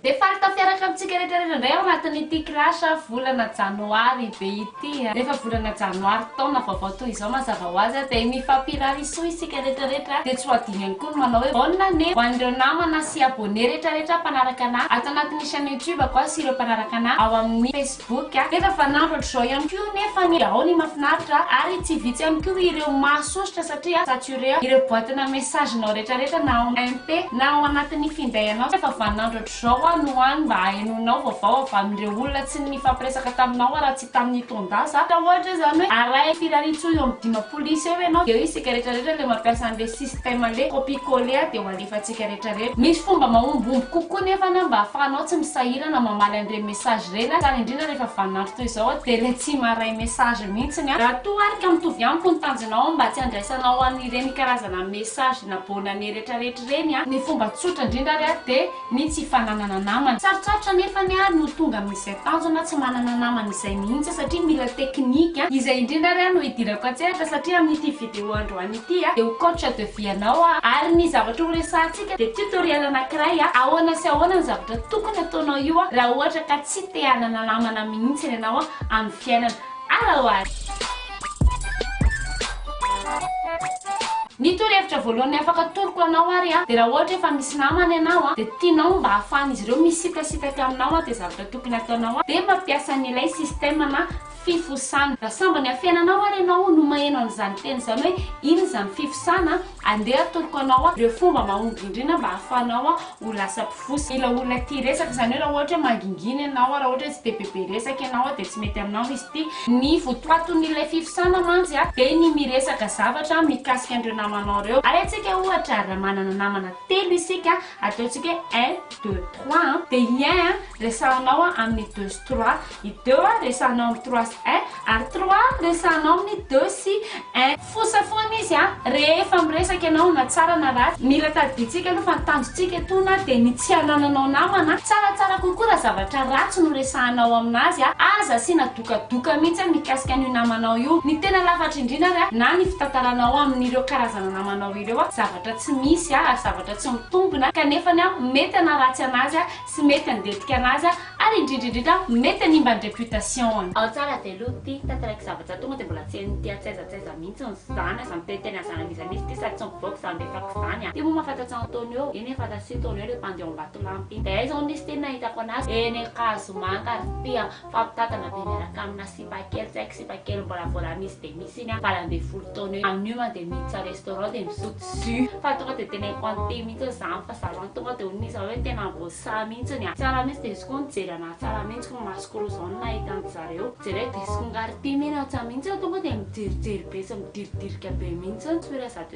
Dia faly tafiaraka amintsika rehetra rehetra indray ao anatin'ity clash volana janoary be ity. Rehefa volana janoary taona vaovao toy izao mazava ho azy dia mifampirary soa isika rehetra rehetra. Dia tsy ho adino ihany koa ny manao hoe bonne année ho an'ireo namana sy abonné rehetra rehetra mpanaraka anah ato anatin'ny chaîne YouTube-ko sy ireo mpanaraka anah ao amin'ny Facebook. boky a! Efa fanandro hatr'izao ihany koa nefa ny ao ny mafinaritra ary tsy vitsy ihany koa ireo mahasosotra satria saturé ireo boatina message-nao retraretra na ao MP na ao anatin'ny finday anao efa vanandro hatr'izao aho no any mba ahenoanao vaovao avy amin'ireo olona tsy nifampiresaka taminao aho raha tsy tamin'ny taon-dasa ka ohatra izany hoe arahy firariantsoa eo amin'ny dimampolo isa eo ianao dia hoe isika retraretra ilay mampiasa an'ilay système ilay copie coller a dia ho alefantsika retraretra misy fomba mahombomby kokoa nefa na mba ahafahanao tsy misahirana mamaly an'ireny Sage reny a, tsara indrindra rehefa vaninandro toy izao a, dia ilay tsy maharay message mihitsiny a. Raha toa ary ka mitovy amiko ny tanjonao mba tsy handraisanao an'ireny karazana message na bonne année retraretra ireny a, ny fomba tsotra indrindra ary a dia ny tsy fananana namana. Sarotsarotra anefany ary no tonga amin'izay tanjona tsy manana namana izay mihitsy satria mila technique a. Izay indrindra ary a no hidirako an-tsehatra satria amin'ity vidéo androany ity. ity dia ho coach de vie anao aho ary ny zavatra ho resahantsika dia tutoriel anankiray ahoana sy ahoana ny zavatra tokony hataonao io raha ohatra ka tsy te hanana namana mihintsiny ianao amin'ny fiainana ara ho ara Ny torohevitra voalohany afaka atoroko anao ary dia raha ohatra efa misy namana ianao dia tianao mba hahafahan'izy ireo misitasitaka aminao dia zavatra tokony hataonao dia mampiasa an'ilay système na fifosana. Raha sambany amin'ny fiainanao ary ianao no maheno an'izany teny izany hoe inona izany fifosana, andeha atoroko anao ireo fomba mahomby indrindra mba hahafahanao ho lasa mpifosa ilay olona tia resaka. Izany hoe raha ohatra hoe mangingina ianao, raha ohatra hoe tsy dia bebe resaka ianao dia tsy mety aminao izy ity. Ny votoatin'ilay fifosana mantsy dia ny miresaka zavatra mikasika an'ireo namanao ireo. Ary antsika ohatra raha manana namana telo isika, ataontsika hoe un, deux, trois an, dia i un resahanao amin'ny deux sy trois. I deux a resahanao amin'ny trois sy un ary trois a resahanao amin'ny deux sy un. Fosa foana izy a! Rehefa miresaka ianao na tsara na ratsy, mila tadidintsika aloha fa ny tanjontsika etoana dia ny tsy hanananao namana a! Tsaratsara kokoa raha zavatra ratsy no resahanao amin'azy a! Aza asiana dokadoka mihitsy a mikasika an'io namanao io! Ny tena lafatra indrindra ary a, na ny fitantaranao amin'ireo karazana namanao ireo a, zavatra tsy misy a, ary zavatra tsy mitombina, kanefany a mety hanaratsy an'azy a! tsy mety handetika anazy ary indrindra indrindra mety hanimba ny reputation-ny. Ao tsara dia lo ty tantaraiky zavatra tonga dia mbola tsy hain'ny ty antsaiza antsaiza mihitsy ny zany aza miteny teny anzany an'iza misy ty sady tsy mivoaka zany be fako zany a! Ty moa mahafantatsa Antonio eny efa aza tsy Antonio le mpandeha ao Ambatolampy iny dia aiza hono izy ty ny nahitako anazy eny Ankazomanka ary ty a! Fampitantana be miaraka amina sipa kely tsy haiko sipa kely mbola vola misy dia misy iny a valo ambin'ny folo taona eo amin'io mantsy dia miditra restaurant dia misotro jus fa tonga dia tena impente mihitsy hoe zany fa zany an tonga dia hono izy hoe tena voasahy mihitsy ny a tsara mihitsy dia izy koa nijery anahy tsara mihitsy koa masoko roa izao no nahita an'i zareo jereo dia izy koa nga ry tim iny aho tsa mihitsy tonga dia mijerijery be sy midiridrika be mihitsy sourire zato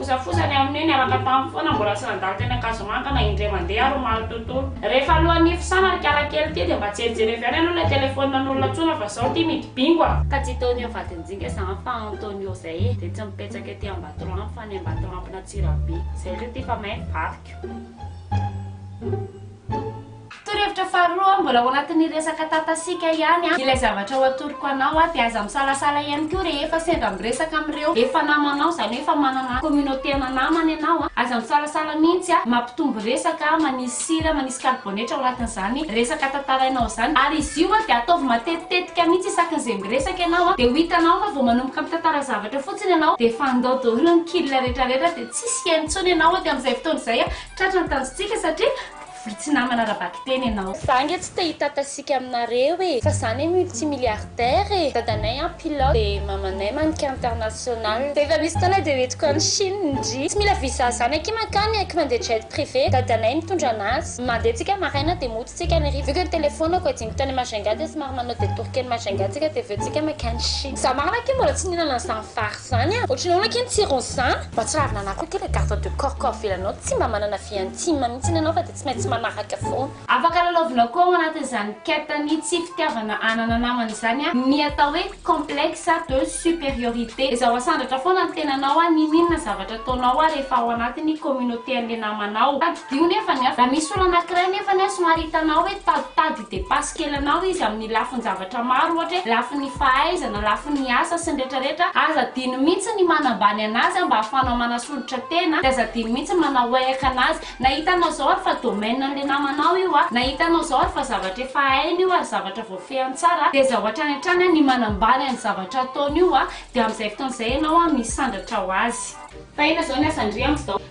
Fosafosa ny amin'io, niaraka taminy foana, mbola tsy nandalo teny Ankazomanga na indray mandeha ary omaly tontolo. Rehefa alohan'ny hifosana ry kala kely ity dia mba jerijery avy any aloha ilay telephone an'olona tsoina fa zao ity midi bingo a! Ka tsy Tonio vadinjinga zany fa Antonio zay e! Dia tsy mipetsaka ety Ambatolampy fa any Ambatolampin'Antsirabe. Zay re ty fa may ny vadiko. Torohevitra faharoa, mbola ao anatin'ny resaka tatasiaka ihany ilay zavatra ho atoroko anao dia aza misalasala ihany koa rehefa sendra miresaka amin'ireo efa namanao, izany hoe efa manana communauté-na namana ianao, aza misalasala mihitsy mampitombo resaka, manisy sira, manisy karibonetra ao anatin'izany resaka tantarainao izany, ary izy io dia ataovy matetitetika mihitsy isaky ny izay miresaka ianao, dia ho hitanao fa vao manomboka mitantara zavatra fotsiny ianao dia efa handao daholo ny kil retraretra dia tsisy hihaino intsony ianao aty amin'izay fotoana izay Tratra ny tanjontsika satria vory tsy namana ara-bakiteny ianao. Za nge tsy te hitata sika aminareo e fa za ne multi milliardaire e dadanay an pilote de mamanay mannequin international rehefa misy fotoana de hoentiko any chine ndry tsy mila visa zany akia mankany aky mandeha jet privé dadanay mitondra anazy mandeha tsika maraina de mody tsika any hariva vu que ny telefonako adino tany majunga de somary manao detour kely majunga tsika de aveo tsika mankany chine za marina akia mbola tsy nihinana an'zany vary Zany an! Ohatry ny ahoana akia ny tsiron'izany? Mahatsiravina anah koa ity le garde de corps ko avelany ao tsy mba manana vie intime mihitsiny ianao fa dia tsy maintsy manaraka foana. Afaka lalaovina koa ao anatin'izany quête ny tsy fitiavana hanana namana izany ny atao hoe complexe de supériorité. Ezaho asandratra foana ny tenanao n'inon'inona zavatra ataonao rehefa ao anatin'ny communauté an'le namanao. Tadidio nefany an! Raha misy olona anankiray nefany an somary hitanao hoe taditadika. Depasse kely anao izy amin'ny lafin-javatra maro ohatra hoe lafin'ny fahaizana, lafin'ny asa sy ny retraretra, aza adino mihitsy ny manambany anazy mba ahafahanao manasolitra tena dia aza adino mihitsy manaoeaka anazy na hitanao zao ary fa domaine an'le namanao io a, na hitanao zao ary fa zavatra efa hainy io ary zavatra voafehiny tsara dia aza ho hatrany hatrany ny manambany an'ny zavatra ataony io a, dia amin'izay fotoana izay ianao misandratra ho azy. Fa inona zao ny asan-dry amin'izao?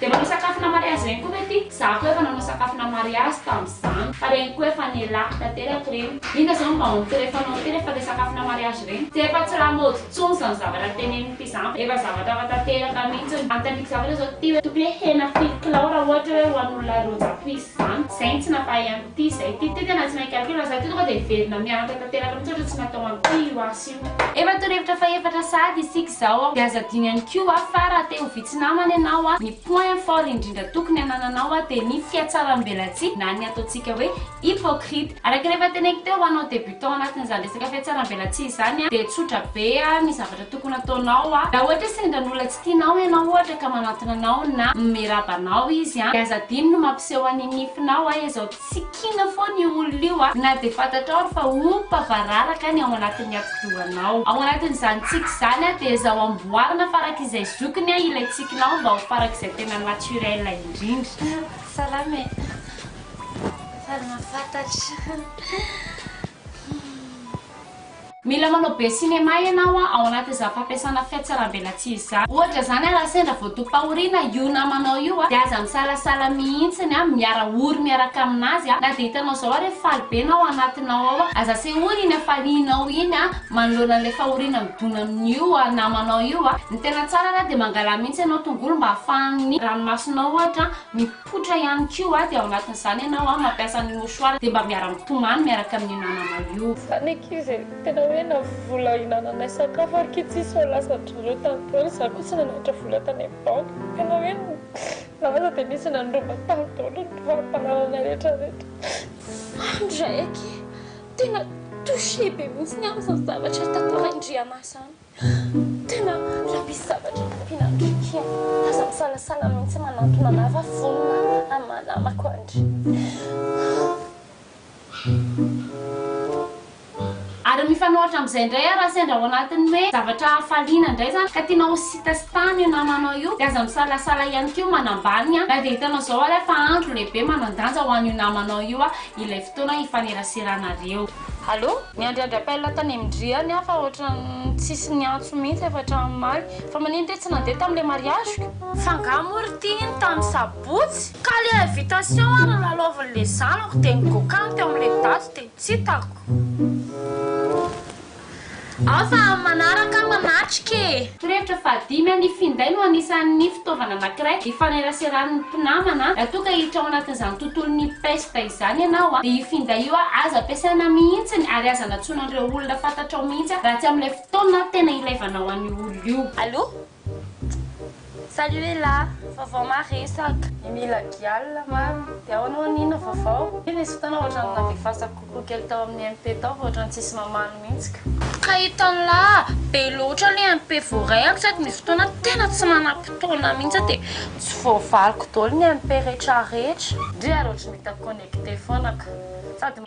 Dia manao sakafona mariazy ireny koa ve ty? Za koa efa nanao sakafona mariazy tamzany fa reny koa efa nialako tanteraka ireny. Inona zao no vahaon'ny tsy refanao ity rehefa le sakafona mariazy ireny? Tsy efa tsy lamaody tsony zany zavatra teneniny ty zany fa efa zavatra hafa tanteraka mintsiny. Anontaniako zavatra zao ty hoe tokony hoe hena firy kilao raha ohatra hoe ho an'olona roa zato isa zany? Zay no tsy nampahay an'ity zay ty. Ty tena tsy mahay calcul zah ty tonga dia hiverina mianatra tanteraka mintsy ohatra tsy natao an'ity io ahy sy io. Efa torohevitra fahefatra sahady isika izao dia aza adino ihany koa fa raha te ho vitsy namana ianao, ny point fort indrindra tokony hanananao dia ny fihatsaram-belatsihy na ny ataontsika hoe hypocrite. Araka ny efa teneniko teo, ho anao débutant anatin'izany resaka fihatsaram-belatsihy izany dia tsotra be ny zavatra tokony ataonao. Raha ohatra hoe sendra an'olona tsy tianao ianao ohatra ka manantona anao na miraba anao izy dia aza adino ny mampiseho an'ny nifinao izao Tsy kiana foana io olona io a! Na dia fantatrao ary fa ompa vararaka ny ao anatin'ny atidohanao. Ao anatin'izany tsiky izany a, dia ezao amboarina farak'izay zokiny a ilay tsikinao mba ho farak'izay tena naturel indrindra. Salama e! Faly mahafantatra. io. Mila manao be cinéma ianao a, ao anaty za fampiasana fiatsarambelatsihy za. Ohatra zany a raha sendra vao topahorina io namanao io a de aza misalasala mihitsiny a, miara ory miaraka aminazy a, na de hitanao zao ary efa faly be na ao anatinao ao a, aza asehoy iny hafalianao iny a, manoloana an'ilay fahoriana midona amin'io namanao io a, ny tena tsara ara de mangalà mihitsy ianao tongolo mba ahafahan'ny ranomasonao ohatra a, Poitra ihany koa a, dia ao anatin'izany ianao a, mampiasa ny mouchoir dia mba miara-mitomany miaraka amin'ny namana io. Fa ny ankizy e, tena hoe na vola hinananay sakafo ary ki tsisy fa lasan-dry zareo tany daholo, izaho koa tsy nananatra vola tany amin'ny banky, tena hoe na aza dia nisy nandroba tany daholo ny fari-panananay rehetra rehetra. Maro ndray akia tena touché be mihitsy ny amin'izany zavatra tantarain-dry Anah izany. Tena mila misy zavatra ampiana andry Ky a! Aza misalasala mihitsy manantona anah fa vonona hamaha namako andry. Ary mifanohitra amin'izay indray ary raha sendra ao anatin'ny hoe zavatra hafaliana indray izany ka tianao ho sitasitana io namanao io dia aza misalasala ihany koa manambany na dia hitanao izao ary aho fa andro lehibe manan-danja ho an'io namanao io ilay fotoana hifaneraseranareo. Allo, miandry andry appel tany am dry any aho fa ohatran'ny tsisy niantso mihitsy avy hatramin'ny omaly. Fa manino re tsy nandeha tamin'ilay mariage-ko? F'angaha moa ry ty iny tamin'ny sabotsy? Ka le invitation ary nilalaovin'le zanako de nigokan teo amle daty de tsy hitako. Ao fa amin'ny manaraka aho manatrika e! Torohevitra fahadimy, Ny finday no anisan'ny fitaovana anankiray ifaneraseran'ny mpinamana. Raha toa ka hiditra ao anatin'izany tontolon'ny pesta izany ianao, dia io finday io aza ampiasaina mihitsy ary aza anatsoina an'ireo olona fantatrao mihitsy raha tsy amin'ilay fotoana tena ilavanao an'io olona io. Allo, Salut Ella, vaovao maresaka. Ny mila gialla mamy dia ahoana hono inona vaovao? Iny nisy fotoana ohatrany navefasako kokoa kely tao amin'ny MP tao fa ohatrany tsisy mamaly mihitsy ka. Ka hitanla, be loatra le MP voarehako sady misy fotoana tena tsy manam-potoana mihitsy aho dia tsy voavaliko daholo ny MP retraretra. Ndry ary ohatry ny hita connecté foana ka. Sady.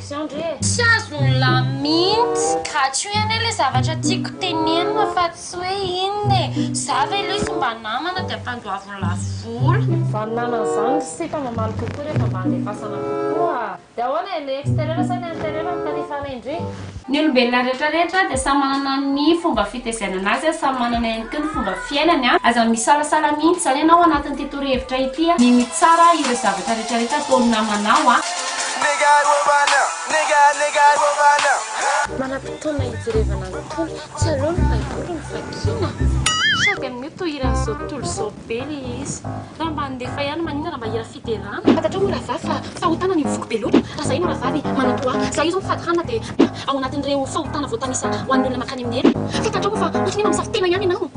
Tsy azony lahy mintsy. Gatsio iany ilay zavatra tiako tenenina fa tsy hoe inona e. Za ve lo sy mba namana dia ampandoaviny lafo vola. Zany namana zany ry sita mamaly kokoa rehefa mba andefasana kokoa. Dia ahoana e, le exterieur sa le interieur no tandrifana indrindra? Ny olombelona rehetra rehetra dia samy manana ny fomba fitezainana azy a, samy manana ihany koa ny fomba fiainany a, aza misalasala mintsy zany ianao anatin'ity torohevitra ity a, mino tsara ireo zavatra rehetra rehetra ataon'ny namanao a. Manam-potoana hijerevana ny tony. Tsy aleo ny baiboly no vakiana? Sady amin'io tohiran'izao tontolo izao be le izy. Raha mba handefa ihany maninona raha mba hira fiderana. Fantatrao moa rahavavy fa fahotana ny mivoky be loatra? Raha izahay no rahavavy manan-po ahy, izahay izao mifady hanina dia ao anatin'ireo fahotana voatanisa ho an'ny olona mankany amin'ny helo. Fantatrao moa fa ohatry ny hoe mamosavy tena ihany ianao?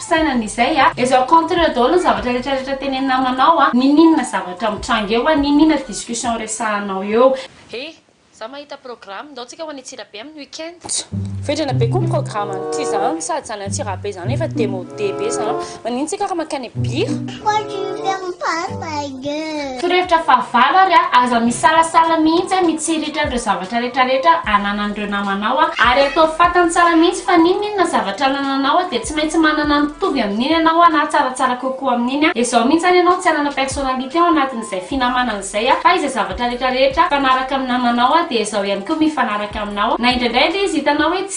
fisainana izay a! Ezo contrer daholo ny zavatra rehetra rehetra tenenin'ny namanao a! Niniana zavatra mitranga eo a! Niniana discussion resahanao eo! He! Za mahita programme, ndao tsika ho any Antsirabe amin'ny week-end. Tso! Vendrana be koa ny programme any ty zany, sady zany Antsirabe zany efa demode be zany, maninona tsika ra mankany Bira? Quoi tu veux faire mon papa? Torohevitra fahavalo ary aza misalasala mihitsy mitsiritra an'ireo zavatra retraretra ananan'ireo namanao ary ataovy fantany tsara mihitsy fa n'inon'inona zavatra anananao dia tsy maintsy manana mitovy amin'iny ianao na tsaratsara kokoa amin'iny izao mihitsy any ianao tsy hanana personnalité ao anatin'izay finamanana izay fa izay zavatra retraretra mifanaraka amin'ny namanao dia izao ihany koa mifanaraka aminao na indraindray ary izy hitanao hoe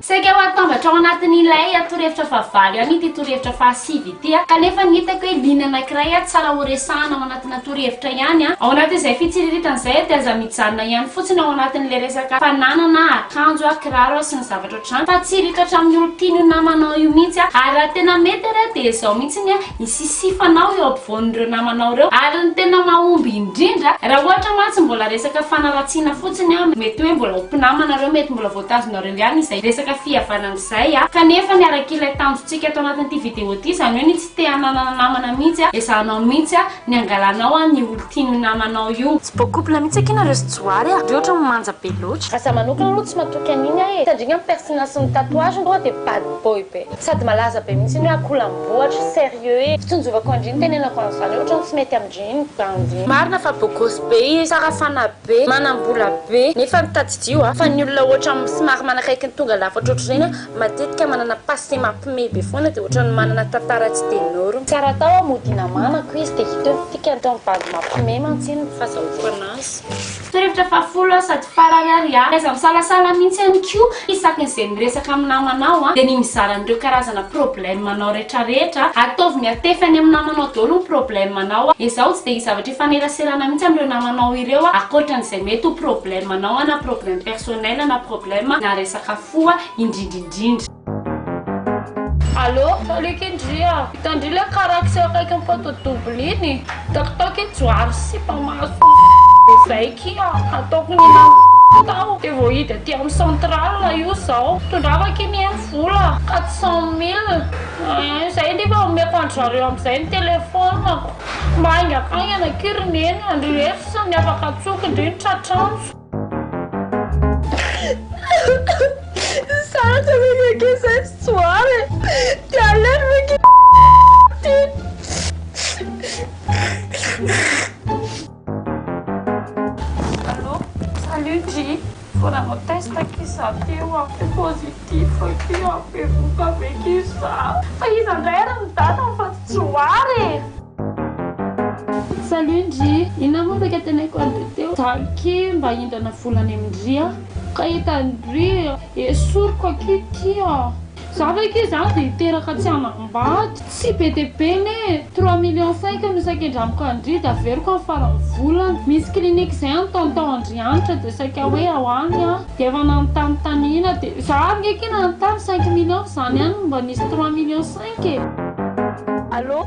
Saika ho atambatra ao anatin'ilay torohevitra fahavalo ihany ity torohevitra fahasivy ity, kanefa ny hitako hoe liana anankiray tsara horesahana ao anatina torohevitra ihany. Ao anatin'izay fitsiriritana izay dia aza mijanona ihany fotsiny ao anatin'ilay resaka fananana akanjo, kiraro sy ny zavatra ohatr'izany fa tsy hiritra hatramin'ny olon-tian'io namanao io mihitsy, ary raha tena mety ary dia izao mihitsy ny ny sisifanao eo ampovoan'ireo namanao ireo ary ny tena mahomby indrindra raha ohatra mantsy mbola resaka fanaratsiana fotsiny an, mety hoe mbola ho mpinamana ireo mety mbola voatazonareo ihany izay resaka fihavanana izay an, kanefa ny arak'ilay tanjontsika ato anatin'ity video ity izany hoe ny tsy te hananana namana mihitsy an, ezahanao mihitsy an ny hangalanao an ny olon-tian'io namanao io. Tsy beau couple mihitsy akia nareo sy Johary a! Re ohatra ny manja be loatra. Raha za manokana aloha tsy matoky an'iny aho e! Satria angamba ny pertinence ny tatouage aloha dia bad boy be. Sady malaza be mihitsy iny hoe akolambohatra, sérieux e! Fitonjovako an-dry ny tenenako an'izany hoe ohatran'ny tsy mety amin-dry ny bandy. Marina fa bogosy be izy, tsara fanahy be, manam-bola be, nefa ny tadidio a! Fa ny olona ohatra somary manakaiky ny tonga lafatra ohatr'ireny a, matetika manana passé mampime be foana dia ohatran'ny manana tantara tsy de norme. Tsy ary atao a, mody hinamanako izy dia hita eo ny fikany, tao amin'ny bandy mampime mantsy iny ny fazahoako anazy. Torohevitra fahafolo sady farany ary a! Taiza misalasala mihintsy ihany koa isaky ny izay miresaka amin'ny namanao a! dia ny mizara an'ireo karazana problème anao rehetra rehetra a! Ataovy miatefy any amin'ny namanao daholo ny problème anao a! Ezaho tsy dia hisy zavatra hifaneraserana mihintsy amin'ireo namanao ireo a! Ankoatra an'izay mety ho problème anao a! na problème personnel na problème na resaka fo a! indrindra indrindra. Allo, Salut Kendry a! Hitan-dry le karaky sy akaikin'ny photo double iny? Takitaky iny johary sy sipa maso be zay ki a! Ataoko ny hihinanako tao de voahidy aty amin'ny centrale io zao. Tondrava ki ny eny vola quatre cent mille ein! Zay ndry fa omeko an-dry zareo amin'izay ny telephone-ko. Mba haingakaingana ki ry neny a! Ndry reto sisa ny afaka antsoiko ndry ny tratranjo. Sarotra ve ny ankizy zay tsy tsoara e? Ty aleo ve ki ty? Allô? Salut Dji! Vao nanao test ki za teo an, de positif ki an, bevohoka ve ki za? Fa iza ndray ary ny date fa tsy tsoara e? Salut ndry! Inona moa ndray ka teneniko an'i Teteo? Izaho ky mba hindrana vola any amin-dry an! Ka hitan-dry esoriko aky ty an! Izaho ve ky izany dia hiteraka tsy hanambady? Tsy be dia be anie e! Trois millions cinq no saika indramiko an-dry dia averiko amin'ny faran'ny volana. Misy clinique izay any tonton Andrianitra dia saika hoe ao any aho. Dia efa nanontany tany Ina dia izaho ary nge ky nanontany cinq millions fa izany ihany no mba nisy trois millions cinq e! Allô!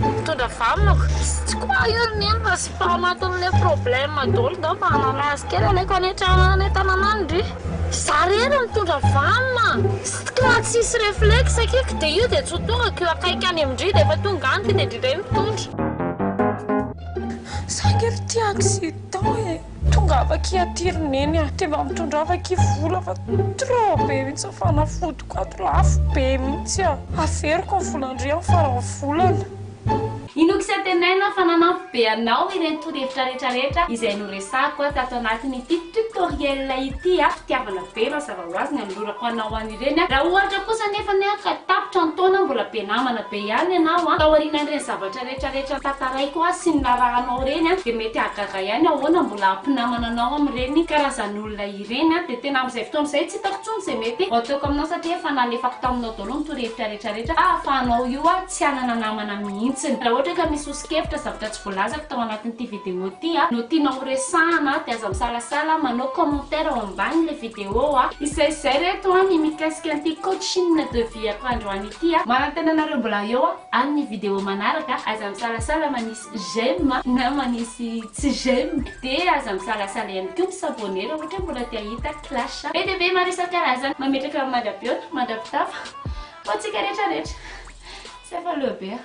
Mitondra vanonoko. Tsy quoi io ry neny fa tsy pas matin'le problème dol ndao mba hanamay azy kely aleko any an-trano any an-tanana any ndry. Za rery mitondra vanona. Sstka raha tsisy reflexe kiko de io de tsy ho tonga ko akaiky any amindry de efa tonga any tonga de ndry ndray mitondra. Saingy ry tia accident e. Tongava akia aty ry neny a! Dia mba mitondrava akia vola fa trop be mihitsy ny fanafodiko ato, lafo be mihitsy a! Averiko ny volan-dry amin'ny faran'ny volana. Inoako sy antenaina fa nanampy be anao ireny torohevitra rehetra rehetra izay noresahako tato anatin'ity tutoriel ity a! Fitiavana be mazava ho azy ny anolorako anao an'ireny a! Raha ohatra kosa anefany ka tapitra ny taona mbola be namana be ihany ianao a! Taorianan'ireny zavatra ireny. Rehetra rehetra tantaraiko azy sy ny narahanao ireny a dia mety hahagaga ihany ahoana mbola hampinamana anao amin'ireny karazan'olona ireny a dia tena amin'izay fotoana izay tsy hitako intsony izay mety ho ataoko aminao satria efa nalefako taminao daholo ny torohevitra rehetra rehetra ka ahafahanao io a tsy hanana namana mihitsiny raha ohatra ka misy ho sokevitra zavatra tsy voalazako tao anatin'ity video ity a no tianao ho resahana dia aza misalasala manao commentaire ao ambanin'ilay video a izay izay reto a ny mikasika an'ity coaching de vie-ko androany ity a manantena anareo mbola eo a. Amin'ny vidéo manaraka, aza misalasala manisy j'aime na manisy tsy j'aime, dia aza misalasala ihany koa mi s'abonner raha ohatra hoe mbola te hahita clash be dia be maro isan-karazany mametraka mandra-pihaona, mandra-pitafa ho antsika rehetra rehetra. Tsy afa-leo be aho.